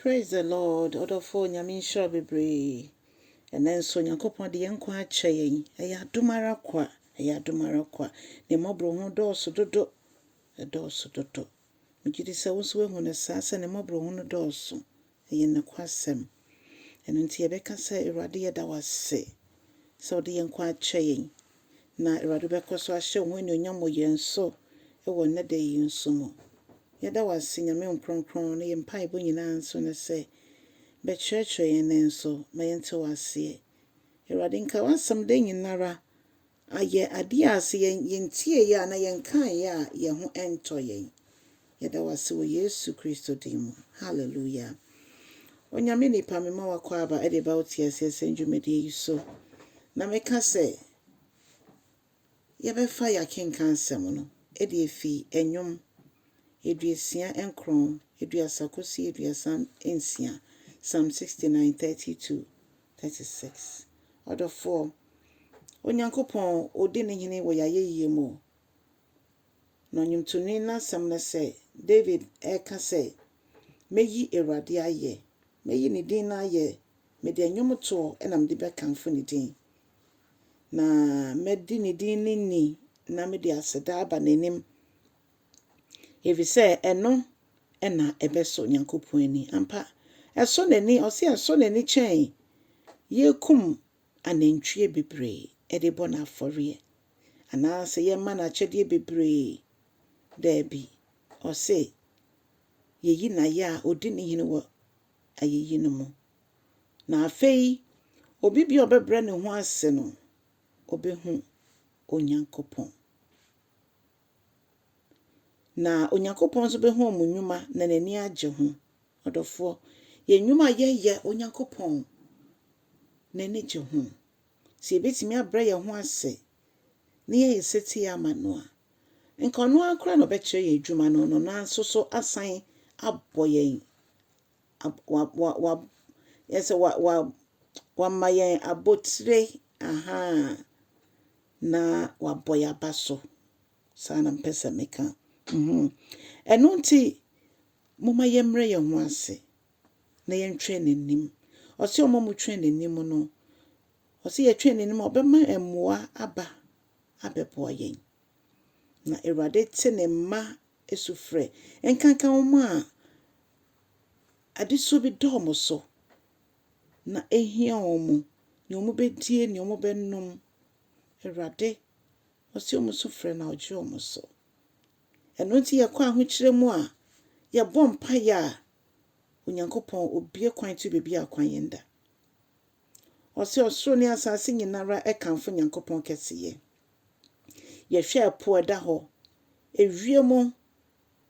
Praise the Lord ɔdɔfoɔ Nyame nhyira wo bebree ɛnɛ nso Nyankopɔn de yɛn nkwa akyɛ yɛn ɛyɛ adom ara kwa ɛyɛ adom ara kwa ne mmɔboro ho dɔɔso dodo ɛdɔɔso dodo megyedi sɛ wo nso wahu no saa sɛ ne mmɔboro ho no dɔɔso ɛyɛ nokwasɛm ɛno nti yɛbɛka sɛ Awurade yɛda wo ase sɛ wode yɛn nkwa akyɛ yɛn Na Awurade bɛkɔ so ahyɛ wo ho anuonyam wɔ yɛn so wɔ nnɛ da yi nso mu. Yɛda wo ase, Nyame wo Kronkron, na yɛn mpaebɔ nyinaa nso ne sɛ, bɛkyerɛkyerɛ yɛn nnɛ nso, ma yɛnte wo aseɛ. Awurade, nka w'asɛm da nyinara, ayɛ adeɛ a sɛ yɛn, yɛntieeɛ a anaa yɛnkaeɛ a, yɛn ho ntɔ yɛn. Yɛda wo ase wɔ Yesu Kristo din mu. Hallelujah. Onyame nipa, mema wo akwaaba de ba wo te aseɛ sɛ ndwumadie yi so. Na me ka sɛ, yɛbɛfa yɛakenka nsɛm no de afi ɛnwom aduasia nkron, aduasa kɔsi aduasa nsia, Psalm 69, 32, 36. Ɔdɔfoɔ, Onyankopɔn, ɔdi ne hene wɔ yɛayɛyie mu o, Na ɔnwomtoni no asɛm ne sɛ, David reka sɛ, Mɛyi Awurade ayɛ, mɛyi ne din no ayɛ, mede nnwomtoɔ na mede bɛkamfo ne din, na mɛdi ne din no ni na mede aseda aba n'anim, ɛfiri sɛ ɛno na ɛbɛsɔ Onyankopɔn ani. Ampa, ɛsɔ n'ani, ɔse ɛsɔ n'ani kyɛn yɛkum anantwie bebree de bɔ no afɔreɛ. anaasɛ yɛma no akyɛdeɛ bebree. Daabi. Ɔse, Yeyi no ayɛ a odi ne hene wɔ ayeyi no mu. Na afei obi biara a ɔbɛbrɛ ne ho ase no, ɔbɛhu Onyankopɔn. Na Onyankopɔn nso bɛhu wɔn nnwuma na n'ani agye ho. Ɔdɔfoɔ, yɛn nnwuma a yɛyɛ, Onyankopɔn n'ani gye ho. Sɛ yebetumi abrɛ yɛn ho ase na yɛayɛ setie ama no a, anka ɔno ara koraa na ɔbɛkyerɛ yɛn adwuma no na ɔno ara nso so asan abɔ yɛn, yɛsɛ wama yɛn abotire, aha, na wabɔ yɛn aba so. Saa na mpɛ sɛ meka. Ɛno nti, momma yɛmmrɛ yɛn ho ase. na yɛntwɛn n'anim. Ɔse ɔma mo twɛn n'anim no, ɔse yɛtwɛn n'anim a ɔbɛma mmoa aba abɛboa yɛn. Na Awurade te ne mma sufrɛ. Nkanka wɔn a adesuo bi da wɔn so na ɛhia wɔn, nea wɔbɛdie, nea wɔbɛnom. Awurade, ɔse wɔn so frɛ na ɔgye wɔn so. Ɛno nti yɛkɔ ahokyerɛ mu a, yɛbɔ mpaeɛ a, Onyankopɔn obue kwan to baabi a kwan yɛn da. Ɔse ɔsoro ne asaase nyinara ɛkamfo Nyankopɔn kɛseyɛ. Yɛhwɛ ɛpo ɛda hɔ, ewiem,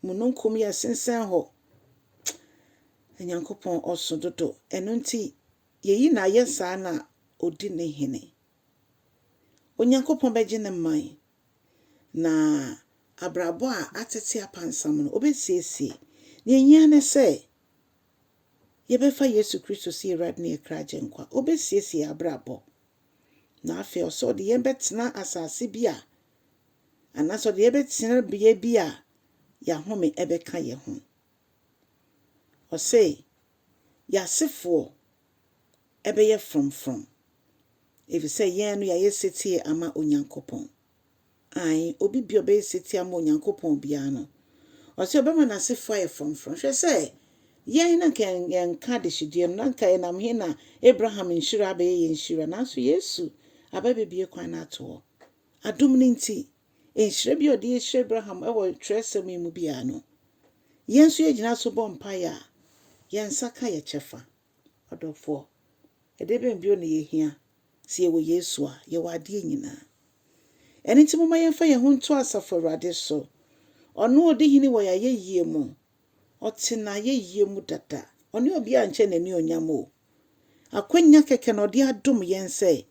mununkum yɛ sensɛn hɔ. Nyankopɔn ɔso dodo. Ɛno nti yɛyi na ayɛ saa na odi ne hene. Onyankopɔn bɛgye ne man Na abrabɔ a atsetse apansam no, obesiesie. Dza ohia nye sɛ yɛbɛfa Yesu Kristo sɛ Ewuradze na Ekra Agyenkwa. Obesiesie hɛn abrabɔ. Na afei ɔsɛ Ɔdze hɛn bɛtsena asaase bi a, anaasɛ Ɔdze hɛn bɛtsena bea bi a yɛahome bɛka hɛnho. Ɔse, Y'asefoɔ ɛbɛyɛ frɔmfrɔm, efisɛ yɛn no yɛayɛ setie ama Onyankopɔn. Aane, obi bi a ɔbɛyɛ setie ama Onyankopɔn biara no, ɔse ɔbɛma n'asefo ayɛ frɔmfrɔm. Hwɛ sɛ yɛn na anka yɛnka adehyedeɛ no, na anka yɛnam he na Abraham nhyira abɛyɛ yɛn nhyira? Nanso Yesu aba abɛbue kwan no ato hɔ. Adom no nti, Nhyira bi a ɔde ahyira Abraham wɔ twerɛsɛm yi mu biara no, yɛn nso yɛgyina so bɔ mpaeɛ a, yɛn nsa ka yɛn kyɛfa. Ɔdɔfoɔ, ɛdeɛ bɛn bio na yɛhia? Sɛ yɛwɔ Yesu a, yɛwɔ adeɛ nyinaa. Ɛno nti momma yɛmfa yɛn ho nto Asafo Awurade so. Ɔno a ɔdi hene wɔ yɛn ayɛyie mu, Ɔte n'ayɛyie mu dada. Ɔne obiara nkyɛ n'anuonyam o. Akwanya kɛkɛ na ɔde adom yɛn sɛ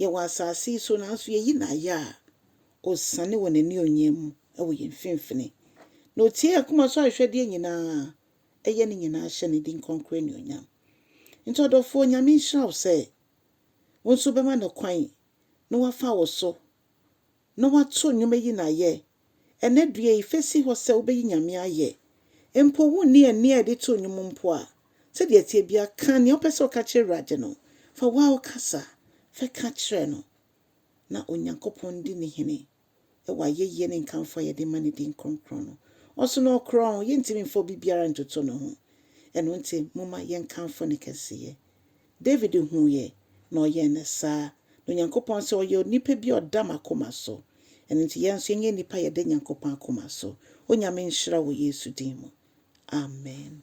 yɛwɔ asase yi so nanso yɛyi no ayɛ a, ɔsiane wɔ n'anuonyam mu wɔ yɛn mfimfini. Na ɔtie yɛn akoma so ahwehwɛdeɛ nyinaa, ɛyɛ ne nyinaa hyɛ ne din kronkron anuonyam. Nti ɔdɔfoɔ, Nyame nhyira wo sɛ wo nso wobɛma no kwan na wafa wo so na wɔato nnwom ayi no ayɛ. Ɛnnɛ dua yi, fa si hɔ sɛ wobɛyi Nyame ayɛ. Mpo wonni ɛnne a yɛde to nnwom mpo a, sɛdeɛ ɛteɛ biara, ka nea wopɛ sɛ woka kyerɛ Awurade no. Fa wo ara wo kasa fa ka kyerɛ no, na Onyankopɔn ndi ne hene wɔ ayɛyie ne nkamfo a yɛde ma ne din kronkron no. Ɔso na ɔkorɔn, yɛntumi mfa obi biara ntoto ne ho. Ɛno nti, momma yɛnkamfo ne kɛseyɛ. David huu yɛ, na ɔyɛɛ no saa. Na Onyankopɔn sɛ ɔyɛ onipa bi a ɔda m'akoma so. Ɛno nti yɛn nso yɛnyɛ nnipa a yɛda Nyankopɔn akoma so. Onyame nhyira wo wɔ Yesu din mu. Amen.